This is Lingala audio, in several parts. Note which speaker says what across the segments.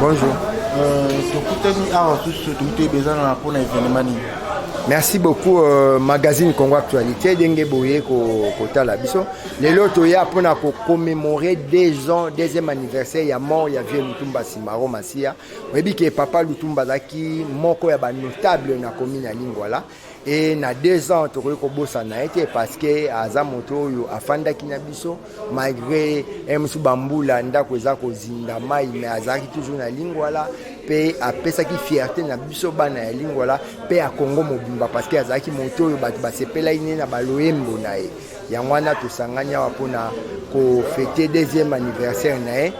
Speaker 1: Bonjour. Euh, Merci beaucoup euh, magazine Congo Actualité denge boye ko kotala biso lelo toya pona ko commémorer deux ans deuxième anniversaire ya mort ya vieux Lutumba Simaro Masia oyebi ke papa Lutumba azalaki moko ya ba notable na commune ya Lingwala et na deux ans tokoki kobosana ye te parce que aza moto oyo afandaki na biso malgré eh, mosusu bambula ndako eza kozinda mai mais azalaki toujours na lingwala mpe apesaki fierté na biso bana ya lingwala mpe ya kongo mobimba parce que azalaki moto oyo bato basepelaki ne na baloyembo na ye Yango wana tosangani awa mpo na kofete deuxième anniversaire na ye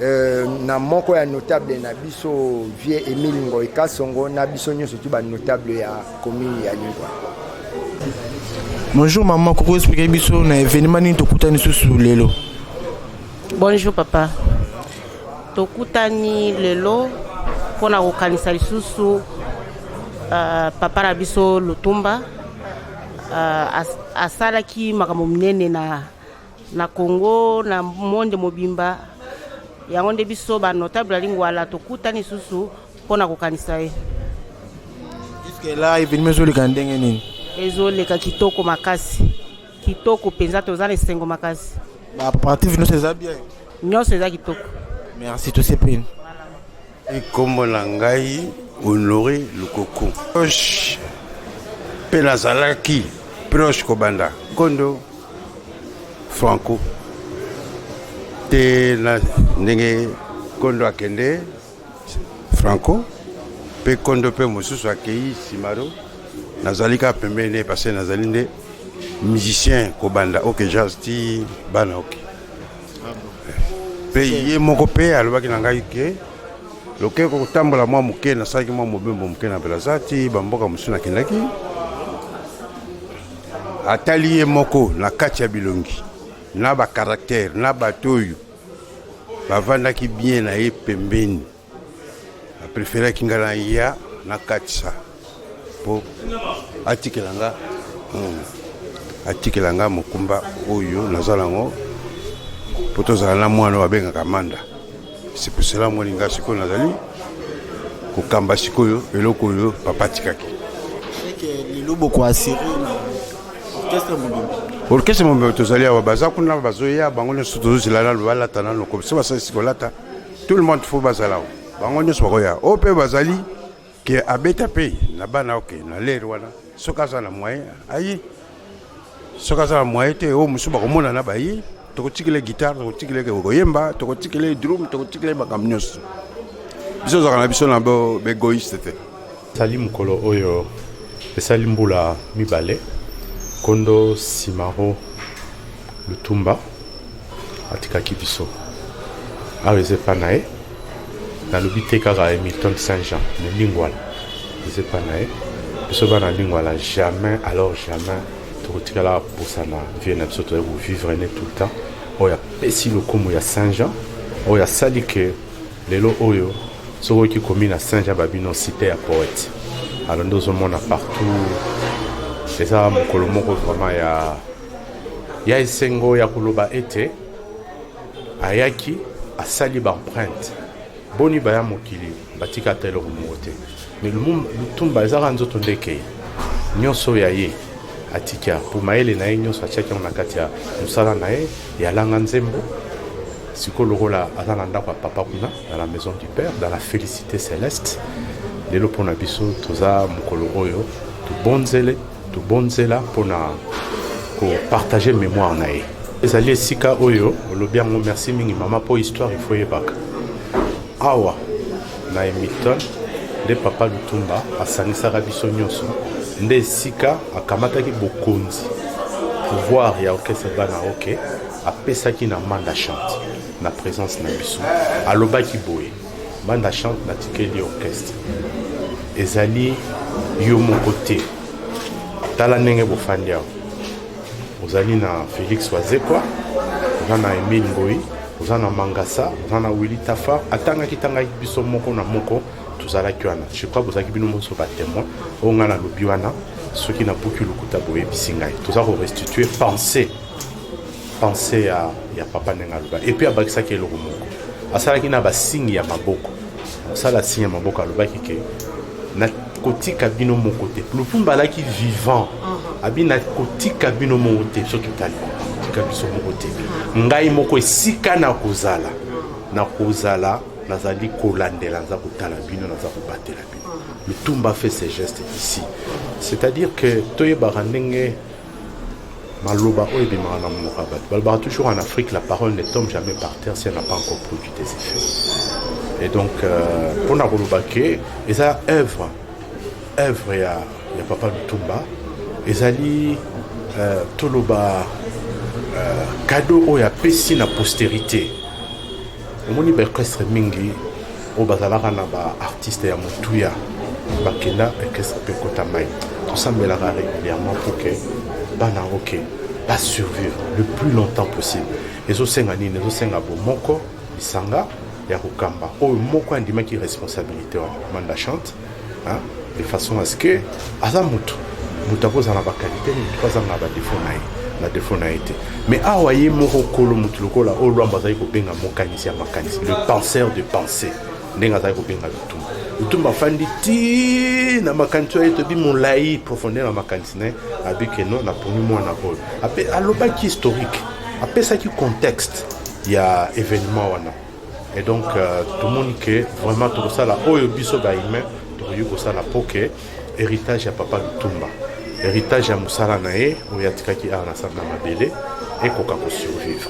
Speaker 1: euh, na moko ya notable na biso vieux Emile Ngoy Kasongo na biso nyonso tu ba notable ya commune ya Lingwa. Bonjour
Speaker 2: maman, koko expliquer biso na événement nini tokutani susu lelo.
Speaker 3: Bonjour papa. Tokutani lelo mpo na kokanisa lisusu uh, papa na biso Lutumba Uh, as, asalaki makambo minene na, na Congo na monde mobimba yango nde biso ba notable ya lingwala tokutani susu mpo na kokanisa ye
Speaker 2: juske la evenima ezoleka ndenge nini ezoleka kitoko
Speaker 3: makasi kitoko mpenza toza na esengo makasi bapartive
Speaker 2: nyonso eza bien nyonso eza kitoko
Speaker 3: merci tosepeli
Speaker 4: Kombo na ngai Honore Lukoku. Proche mpe nazalaki proche kobanda nkondo Franco te na ndenge nkondo akende Franco mpe nkondo mpe mosusu akei Simaro nazali kaka pembeni ne parce nazali nde musicien kobanda oke jazz ti bana oke mpe ye moko mpe alobaki na ngai ke lokei kotambola mwa moke nasalaki mwa mobembo moke na belaza ti bamboka mosusu nakendaki atali ye moko na kati ya bilongi na bakaraktere na bato oyo bavandaki bien na ye pembeni na preferaki nga na ya na katisa mpo atikela nga hmm, atikela nga mokumba oyo naza nango mpo tozala na mwana oyo abengaka manda sepusela moni nga sikoyo nazali kokamba sikoyo eloko oyo papa atikaki orkestre mobimba tozali awa baza kuna bazoya bango nyonso tozozela nano balata nano komisa basalisi kolata tout le monde faut bazala o bango nyonso bakoya oyo mpe bazali ke abeta mpe na bana oke na lere wana soki aza na moyen aye soki aza na moyen te oyo mosusu bakomonana baye tokotikela guitare tokotikela koyemba tokotikela drum tokotikela makambo nyonso biso ozalaka na biso na boegoiste te Esali mokolo
Speaker 5: oyo esali mbula mibale nkondo Simaro Lutumba atikaki biso awa eza epa na ye nalobi te kaka Hamilton Saint Jean me Lingwala eza epa na ye biso bana Lingwala jamais alors jamais tokotikala kobosana vie na biso toyai kovivre ne tout le temps oyo apesi lokumu ya Saint Jean oyo asali ke Lelo oyo soki oki komi na Saint Jean Babino cite ya poète alors nde ozomona partout eza mokolo moko vraiment ya ya esengo ya koloba ete ayaki asali baempreinte boni baya mokili batika ata eloko moko te Mais Lumumba Lutumba ezaka nzoto nde ekei nyonso ya ye atika mpo mayele na ye nyonso atiaki yango na kati ya mosala na ye ya langa nzembo sikoyo lokola aza na ndako ya papa kuna dans la maison du père dans la félicité céleste lelo mpo na biso toza mokolo oyo tobonzele tobonzela mpo na kopartage mémoire na ye ezali esika oyo olobi yango merci mingi mama mpo histoire ifo eyebaka awa Na Hamilton nde Papa Lutumba asangisaka biso nyonso, nde esika akamataki bokonzi pouvoir ya orchestre bana oke apesaki na Manda Chante na presence na biso, alobaki boye Manda Chante natikeli orchestre ezali yo moko te, tala ndenge bofandi awa ozali na Felix Wazekwa, oza na Emile Mboyi, oza na Mangasa, oza na Willy Tafa, atangaki tangaki biso moko na moko tozalaki wana je crois bozalaki bino monso batémoin oyo ngai nalobi wana soki nabuki lokuta boyebisi ngai toza korestitue pensée pensée ya, ya papa ndenge aloba epuis abakisaki eloko moko asalaki na basingi ya maboko mosala signe ya maboko alobaki ke na kotika bino moko te lutumba alaki vivant uh-huh. abi na kotika bino moko te biso totali kotika biso moko te uh-huh. ngai moko esika na kozala na kozala nazali kolandela naza kotala bino naza kobatela bino uh-huh. lutumba fait ses gestes ici c'est-à-dire que toyebaka ndenge maloba oyo ebimaka na monoko ya bato balobaka toujours en afrique la parole ne tombe jamais par terre si elle n'a pas encore produit des effets et donc euh, mpo na koloba ke eza œuvre œuvre ya, ya papa lutumba ezali euh, toloba euh, cadeau oyo apesi na postérité omoni ba orchestre mingi oyo bazalaka na ba artiste ya motuya bakenda orchestre mpe ekota mai tosambelaka régulièrement pour que bana yango ke basurvivre le plus longtemps possible ezosenga nini ezosenga bomoko lisanga ya kokamba oyo moko andimaki responsabilité wana manda chante de façon à ce que aza mutu mutu akozala na bakalite mutu mpe azanga badefo na ye na defo na ye te mais awa ye moko kolo mutu lokola oyo lwambo azali kobenga mokanisi ya makanisi le penseur de pensée ndenge azali kobenga lutumba lutumba afandi ti na makanisi oyo etobi molai profondeur na makanisi na ye abi ke non naponi mwana oyo ape alobaki historique apesaki contexte ya événement wana Et donc euh, tout le monde que vraiment tout ça là, oyo biso ba humain, tout le monde ça là pour que héritage à papa Lutumba, héritage à Moussala nae, ou ya tikaki a na sabna mabele, et qu'on peut survivre.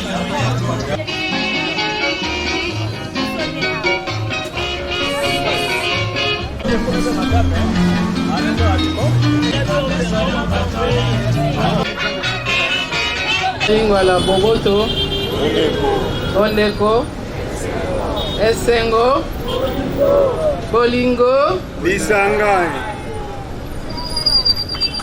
Speaker 6: lingwala boboto bondeko esengo bolingo lisangani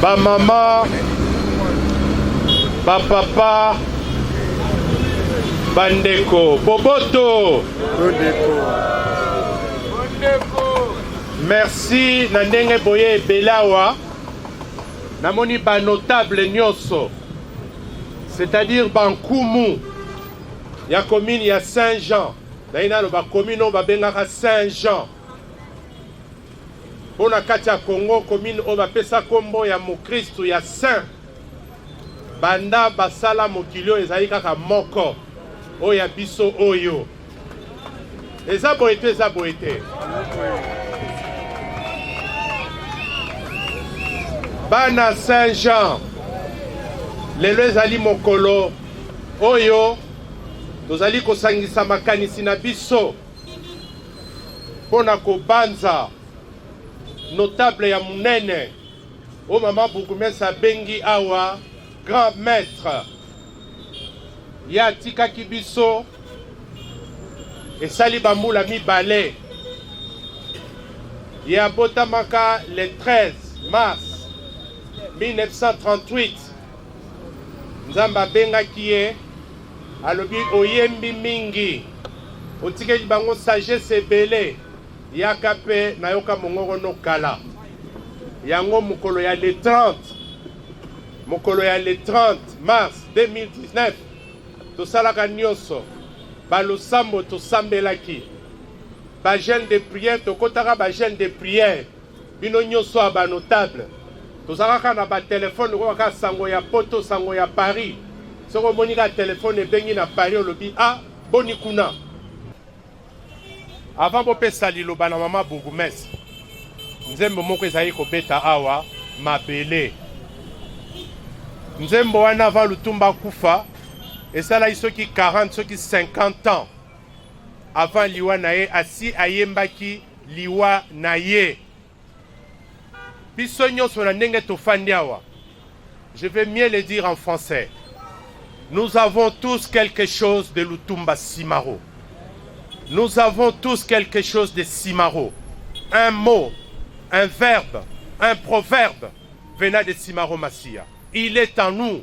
Speaker 7: Ba mama, ba papa, ba ndeko, boboto. Merci na ndenge boye belawa. Namoni ba notable nyoso. C'est-à-dire Bankumu ya commune ya Saint-Jean. Naina lo ba commune ba bengaka Saint-Jean. mpo na kati ya Congo commune oyo bapesa nkombo ya mokristu ya saint banda basala mokili oyo ezali kaka moko oyo ya biso oyo eza boye te eza boye te bana saint jean lelo ezali mokolo oyo tozali kosangisa makanisi na biso mpo na kobanza notable ya monene oyo mama bourgmestre abengi awa grand maître ye atikaki biso esali bambula mibale ye abotamaka le 13 mars 1938 Nzambe abengaki ye, alobi oyembi mingi, otikeli bango sagesse ebele, yaka pe nayoka mongongo no kala. Yango mokolo ya le 30 mokolo ya le 30 mars 2019 tosalaka nyonso balosambo tosambelaki bagene de prière tokotaka bagene de prière Bino nyoso ya ba notable tozalaka kaka na ba telefone lokola kaka sango ya poto sango ya Paris. Soki omoni kaka telefone ebengi na Paris olobi a ah, boni kuna. Avant bopesa liloba na mama bourgmestre, nzembo moko ezali kobeta awa mabele. Nzembo wana avant Lutumba kufa esalaki soki 40 soki 50 ans Avant liwa na ye, asi ayembaki liwa na ye. Biso nyonso na ndenge tofandi awa, je vais mieux le dire en français. Nous avons tous quelque chose de Lutumba Simaro. Nous avons tous quelque chose de Simaro. Un mot, un verbe, un proverbe venant de Simaro Massia. Il est en nous.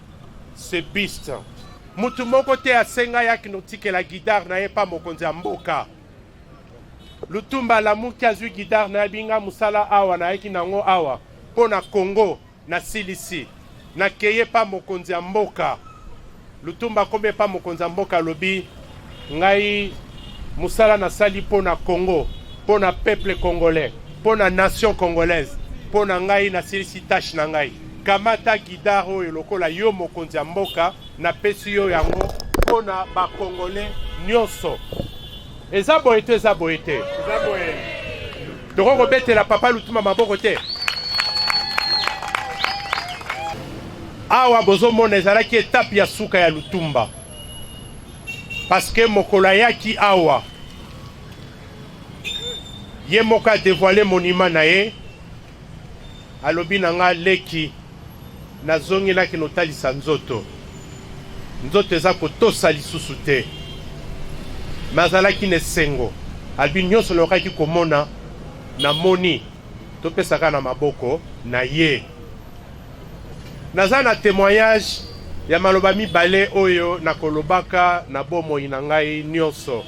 Speaker 7: Cepiste, mutu moko te asenga yaki notikela guidar na ye pa mokonzi ya mboka. Lutumba alamuki azwi guidar na ye binga musala awa nayaki nango awa mpo na Congo nasilisi nakeye pa mokonzi ya mboka. Lutumba akomi epa mokonzi ya mboka alobi Ngai musala na sali po na Congo, po na peuple congolais, po na nation congolaise, po na ngai na silisi tâche na ngai. Kamata guidar oyo lokola yo mokonzi ya mboka, na pesi yo yango po na ba congolais nionso. Eza boye to eza boye te? Eza boye. Toko kobetela papa Lutuma maboko te. awa bozomona ezalaki etape ya suka ya lutumba Parce que mokolo ayaki awa ye moko a devoile monima na ye, alobi na nga leki, nazongelaki notalisa nzoto, nzoto eza kotosa lisusu te, me azalaki na esengo, albi nyonso nayokaki komona namoni, topesaka na maboko na ye. Naza na temoignage ya maloba mibale oyo nakolobaka na bomoi na ngai nyonso,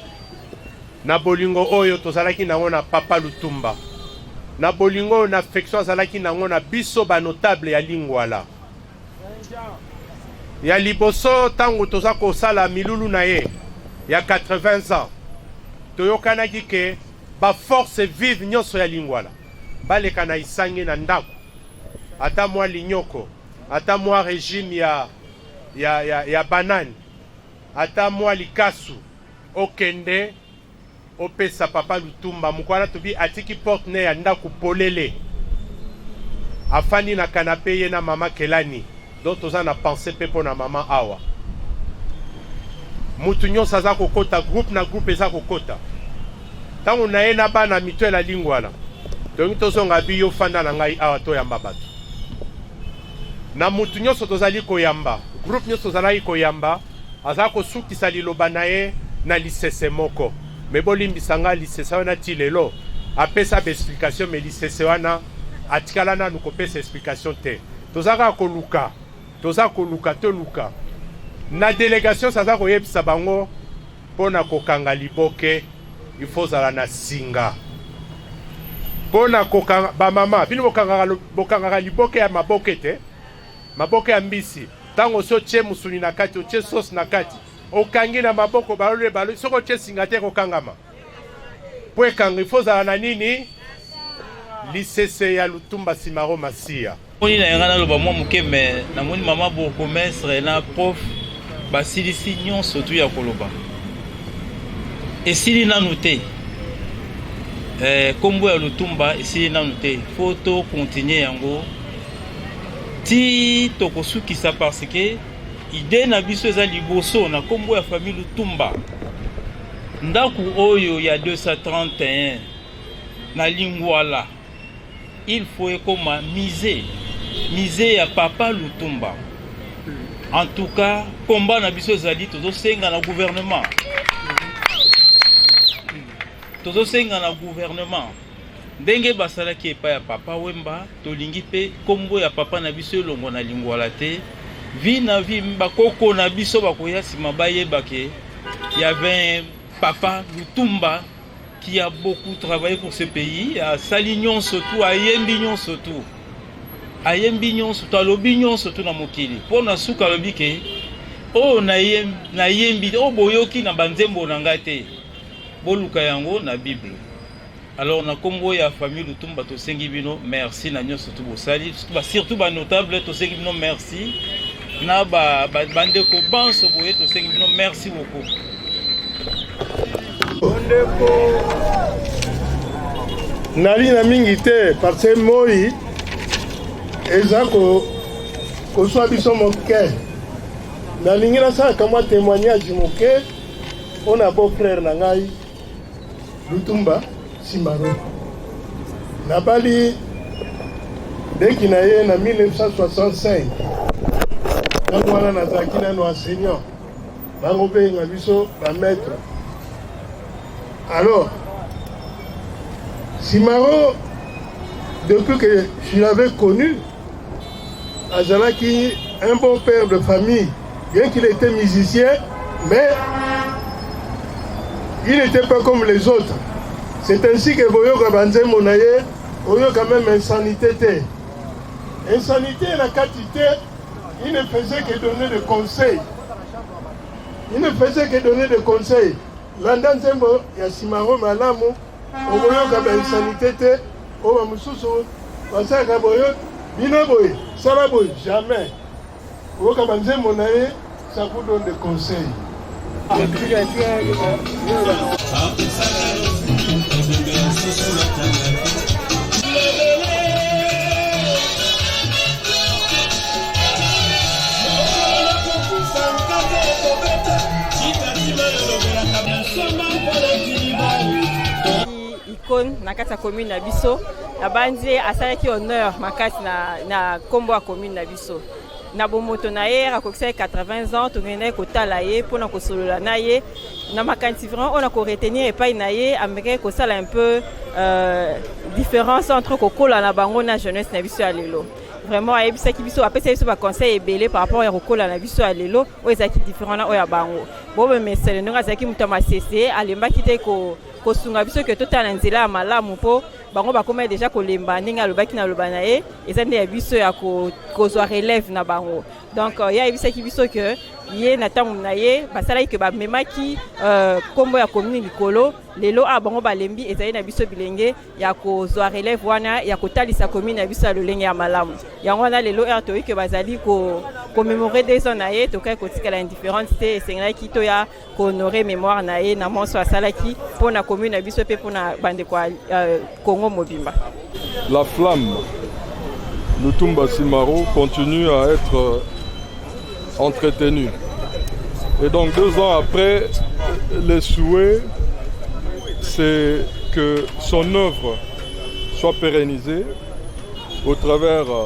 Speaker 7: na bolingo oyo tozalaki nango na Papa Lutumba, na bolingo oyo na affection azalaki nango na biso ba notable ya Lingwala. Ya liboso, ntango toza kosala milulu na ye ya 80 ans, toyokanaki ke ba force vive nyonso ya Lingwala baleka na Isange na ndako ata mwa linyoko, ata mwa regime ya, ya, ya, ya banani, ata mwa likasu, okende opesa papa Lutumba mokwana tobi atiki porte ne ya ndako polele, afandi na kanape ye na mama Kelani. Donc toza na pensée pe pona maman awa. Mutu nyonso aza kokota groupe na groupe eza kokota. Tango na ye na bana mito la lingwala. Donc tozonga biyo fanda na ngai awa toyamba bato. Na mutu nyonso tozali koyamba, groupe nyonso tozalaki koyamba aza kosukisa liloba na ye na lisese moko. Me bolimbisa ngai lisese wana ti lelo apesa ba explication me lisese wana atikala nanu kopesa explication te. toza kaka koluka toza koluka toluka na delegation saza koyebisa bango mpo na kokanga liboke il faut ozala na singa mpo na kokanga bamama bino bokangaka, bokangaka liboke ya maboke te maboke ya mbisi ntango osi otye mosuni na kati otye sosi na kati okangi na maboko balole balole soki otye singa te ekokangama mpo ekanga ifo ozala na nini lisese ya lutumba simaro masiya moni na yanga naloba
Speaker 8: mwa moke me namoni mama bourgomestre na prof basilisi nyonso tu ya koloba esili nanu te eh, kombo ya lutumba esili nanu te fo to continue yango ti tokosukisa parce que Idee na biso eza liboso na kombo ya famille Lutumba. Ndaku oyo ya 231 na Lingwala il faut ekoma musée, musée ya papa Lutumba. En tout cas, combat na biso ezali tozosenga na gouvernement. Tozosenga na gouvernement. Ndenge basalaki epai ya Papa Wemba, tolingi mpe nkombo ya Papa na biso elongwa na lingwala te. Vi na vi, bakoko na biso bakoya nsima bayeba ke ya 20 Papa Lutumba qui a beaucoup travaillé pour ce pays, à Salignon surtout, à Yembignon surtout. À Yembignon surtout, à Lobignon surtout na mokili. Pour na suka lobi ke oh na yem na yembi oh boyoki na banzembo na ngate. Boluka yango na Bible. Alors na kombo ya famille Lutumba tosengi bino merci na nyoso tout bosali surtout ba notable tosengi bino merci na ba bandeko banso boye tosengi bino merci beaucoup ndeko
Speaker 9: nali na mingi te parce que moi eza kozwa biso moke nalingi nasalaka mwa témoignage moke mpo na beau frère na ngai Lutumba Simaro nabali leki na ye na 1965 ntango wana nazalaki nano enseignant bango mpenga biso bamaître alors Simaro depuis que je l'avais connu Azalaki un bon père de famille, bien qu'il était musicien, mais il n'était pas comme les autres. C'est ainsi que Boyoka Banzembo Naye, Oyoka même insanité. Insanité, la quantité, il ne faisait que donner des conseils. Il ne faisait que donner des conseils. Landa Nzembo, Yasimaro Malamu, Oyoka Bansanité. oyo bamosusu basalaka boye bino boye sala boye jamais oyoka banzembo na ye sakudo de conseil
Speaker 10: icone na kati ya commune na biso nabanzi ye asalaki honneur makasi na, na kombo ya commune na biso na bomoto na ye akokisaki 80 ans tokendaki kotala ye mpo na kosolola na ye na makanisi vraiment oyo na koretenir epai na ye amekaki kosala un peu euh, différence entre kokola na bango na jeunesse na biso ya lelo vraiment ayebisaki biso apesaki biso baconseil ebele par rapport ya kokola na biso ya lelo oyo ezalaki différent na oyo ya bango bomemesele ndenge azalaki moto ya masese alembaki te ko kosunga biso ke totala na nzela ya malamu mpo bango bakomaki deja kolemba ndenge alobaki na loba na ye eza nde ya biso ya kozwa relève na bango donc euh, ye ayebisaki biso ke ye na ntango na ye basalaki ke bamemaki euh, nkombo ya komini likolo lelo awa bango balembi ezali na biso bilenge ya kozwa relève wana ya kotalisa komini na biso ya lolenge ya malamu yango wana lelo r toyike bazali komemore ko 2 ans na ye tokaki kotikala indifférence te esengelaki toya ko honorer memoire na ye na monso asalaki mpo na commune na biso mpe mpo na bandeko ya euh, Congo mobimba. La
Speaker 11: flamme Lutumba Simaro continue à être euh, entretenue. Et donc deux ans après, les souhaits, c'est que son œuvre soit pérennisée au travers euh,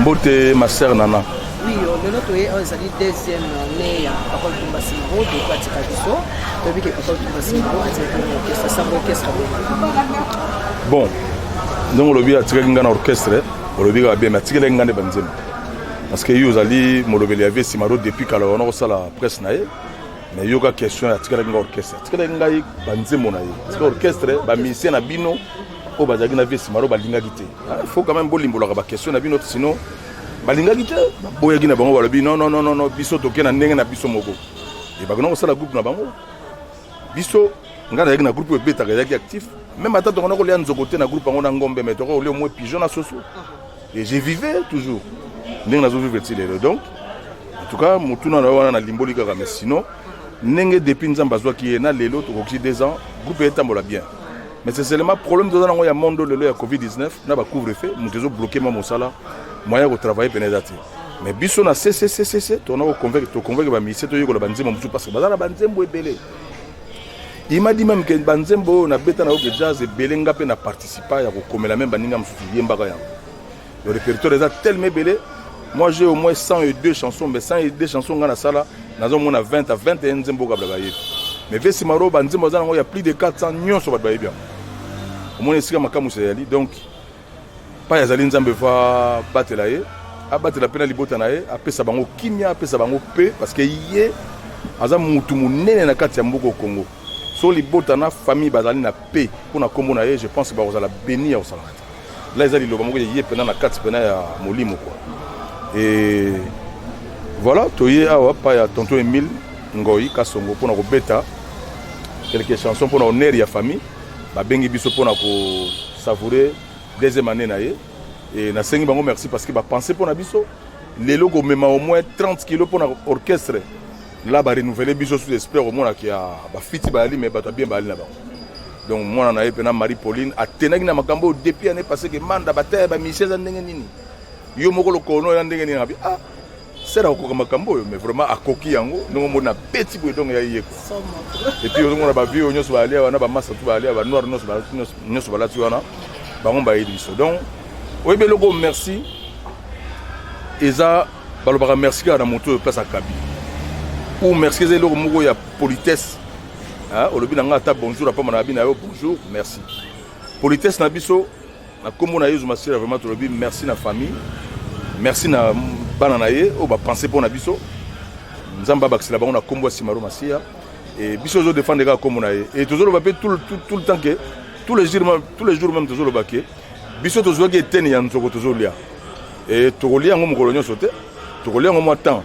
Speaker 12: mbote ma sœur nana oui lelo
Speaker 13: toye oyo ezali deuxième mai ya papa
Speaker 12: lutumba simaro toyeko atika biso toyebi ke papa lutumba simaro atikaki na orchestre sango orchestre
Speaker 13: bon ndenge olobi atikaki ngai na orchestre olobi kaka bien mais atikelaki ngai nde banzembo parce que ye ozali molobeli ya vie simaro depuis kala wana kosala presse na ye mais yoka question atikelaki ngai orchestre atikelaki ngai banzembo na ye tika orchestre bamusicien na bino oyo bazalaki na vie simaro balingaki te ah, faut quand même bolimbolaka baquestion na bino sinon balingaki te baboyaki na bango balobi non non non non biso toke na ndenge na biso moko ebaki na kosala groupe na bango biso ngai nazalaki na groupe oyo ebetaka ezalaki actif meme ata tokona kolia nzoko te na groupe yango na ngombe mai tokoki kolia omoi pigeon na soso et je vivais toujours ndenge nazovivre ti lelo donc en tout cas motuna na yo wana nalimboli kaka mais sinon ndenge depuis nzambe azwaki ye na lelo tokokisi deux ans groupe etambola bien mais c'est seulement problème toza nango ya monde lelo ya covid 19 na ba couvre feu moto ezo bloquer ma mosala moyen ya kotravaille pene eza te mais biso na cccc tona koconvaincre toconvaincre bamisie toyekola banzembo mosusu parce que baza na banzembo ebele il m'a dit même que banzembo oyo nabeta na yoke jazz ebele nga mpe na participa ya kokomela meme baninga mosusu yembaka yango Le répertoire eza tellement ebele. Moi j'ai au moins 102 chansons mais 102 chansons nga na sala nazo mona 20 à 21 nzembo kabla ba yebi. Mais Vesi Maro ba nzembo za nango ya plus de 400 nyonso ba yebi. Omoni esika makamu se yali donc pa yazali nzambe va batela ye abatela mpe na libota na ye apesa bango kimia apesa bango mpe parce que ye aza mutu munene na kati ya mboka Congo so libota na famille bazali na pe mpo na nkombo na ye je pense bakozala beni ya kosalaka la eza liloba moko eye mpena na kati mpena ya molimo kua e voilà toye awa pa ya tonton emile ngoi kasongo mpona kobeta quelque chanson mpona honneur ya famille babengi biso mpona kosavoure deuxième année na ye e nasengi bango merci parce que bapense mpona biso lelo komema au moins 30 kilo mpona orchestre la barenouvele biso sous espère omonaka ya bafiti bayali me bato ya bien bayali na bango donc mwana na ye mpena marie pauline atenaki na makambo oyo depuis année passé ke manda bataya ya bamisie eza ndenge nini yo moko lokono ya ndenge nini abi ah sera akokoka makambo oyo mais vraiment akoki yango ndenge omoni na beti boye donc ya yeko epuis ozomona bavie oyo nyonso balia wana bamasa tu balia banoir nyonso balati wana bango bayebi biso donc oyebi eloko merci eza balobaka merci kaka na moto oyo place akabi ou merci eza eloko moko ya politesse Hein, olobi na nga ata bonjour apama na abi na yo bonjour merci politesse na biso na nkombo na yezu masira vraiment tolobi merci na famille merci na bana na ye oyo bapense mpo na biso nzambe abakisela bango na nkombo ya simaro masiya e biso tozodefendre kaka nkombo na ye e tozoloba mpe tout le temps ke tous les jours tous les jours même tozoloba ke biso tozwaki eteni ya nzoko tozolia e tokolia yango mokolo nyonso te tokolia yango mwa temps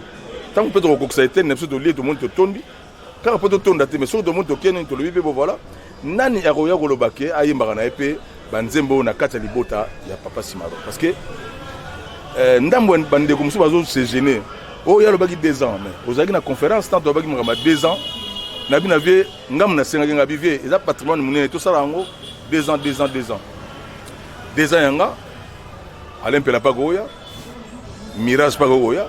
Speaker 13: ntango mpe tokokokisa eteni na biso tolie tomoni totondi kaka mpo totonda te mais soki tomoni toke nini tolobi mpe bo voilà nani akoya koloba ke ayembaka na ye mpe banzembo oyo na kati ya libota ya papa simaro parce que euh, ndambo ya bandeko mosusu bazo se gene oyo oh, ye alobaki deux ans mais ozalaki na conférence ntanto alobaki makambo ya deux ans na bino vie ngambo nasengaki nga bivie eza patrimoine monene tosala yango deux ans deux ans deux ans deux ans yanga alain mpela mpe akoya mirage mpe akoya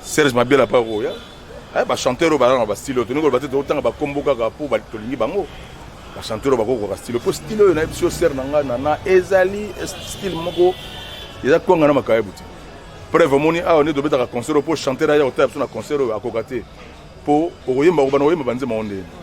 Speaker 13: serge mabela mpe akoya Eh, ba chanteur oyo balaka na ba style oyo tolingi koloba te tokotanga bakombo kaka mpo tolingi bango ba chanteur oyo bakokoka style mpo style oyo nayebi sio sere na ngai nana ezali style moko eza kwanga na makayebu te preuve omoni awa nde tobetaka concert oyo mpo chanteur aya kotala biso na concert oyo akoka te mpo okoyemba okobana koyemba banzema oyo ndeni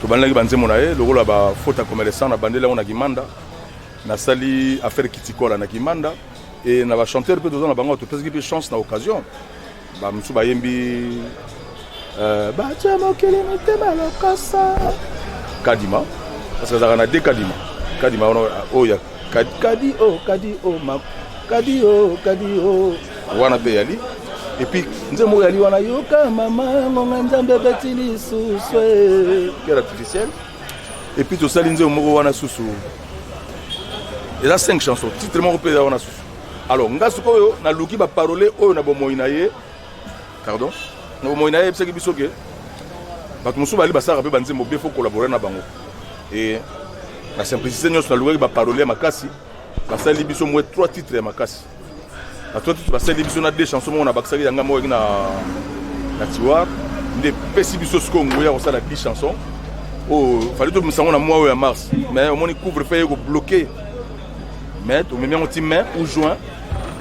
Speaker 13: tobandelaki banzembo na ye lokola bafaute ya commerçant na bandeli yango na kimanda nasali affaire kitikola na kimanda e na bachanteur mpe toza na bango topesaki mpe chance na occasion bamosusu bayembi euh, batya mokili mitema lokosa kadima parce que azalaka na de kadima kadima wana oyo oh, Kadi kadi oh kadi oh ma kadi oh kadi oh wana pe yali epuis nzembo moko yali wana yoka mama ngonga nzambe beti lisusu cœur artificiel epuis tosali nzembo moko wana susu eza 5 chanson titre moko mpe eza wana susu alors nga sikoyo naluki baparole oyo na bomoi na ye pardon na bomoi na ye ayebisaki biso ke bato mosusu bali basalaka mpe banzembo bie fo kolabore na bango e na simplicité nyonso nalukaki baparole ya makasi basali biso mwe trois titres ya makasi na trois titres basali biso na deux chanson moko nabakisaki yanga moko na, na tiwar nde epesi biso sikoyo ngoya kosala 10 chanson oyo oh, fali tobimisa yango na mwa oyo ya mars mais omoni couvre fe ye kobloke mais tomemi yango ti mai ou juin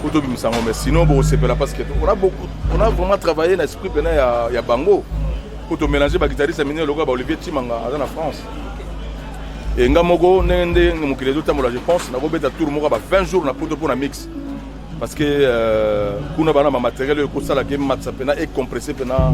Speaker 13: po tobimisa yango mais sinon bokosepela parce que on a beaucoup on a vraiment travaillé na esprit pena ya, ya bango po tomélange baguitariste minene lokola ba olivier timanga aza na france e nga moko ndenge ndenge mokili ezotambola je pense nakobeta tour moko ba 20 jours na poto mpo na mix parce que euh, kuna bana bamateriel oyo ekosala ke matisa mpena ecompresse mpena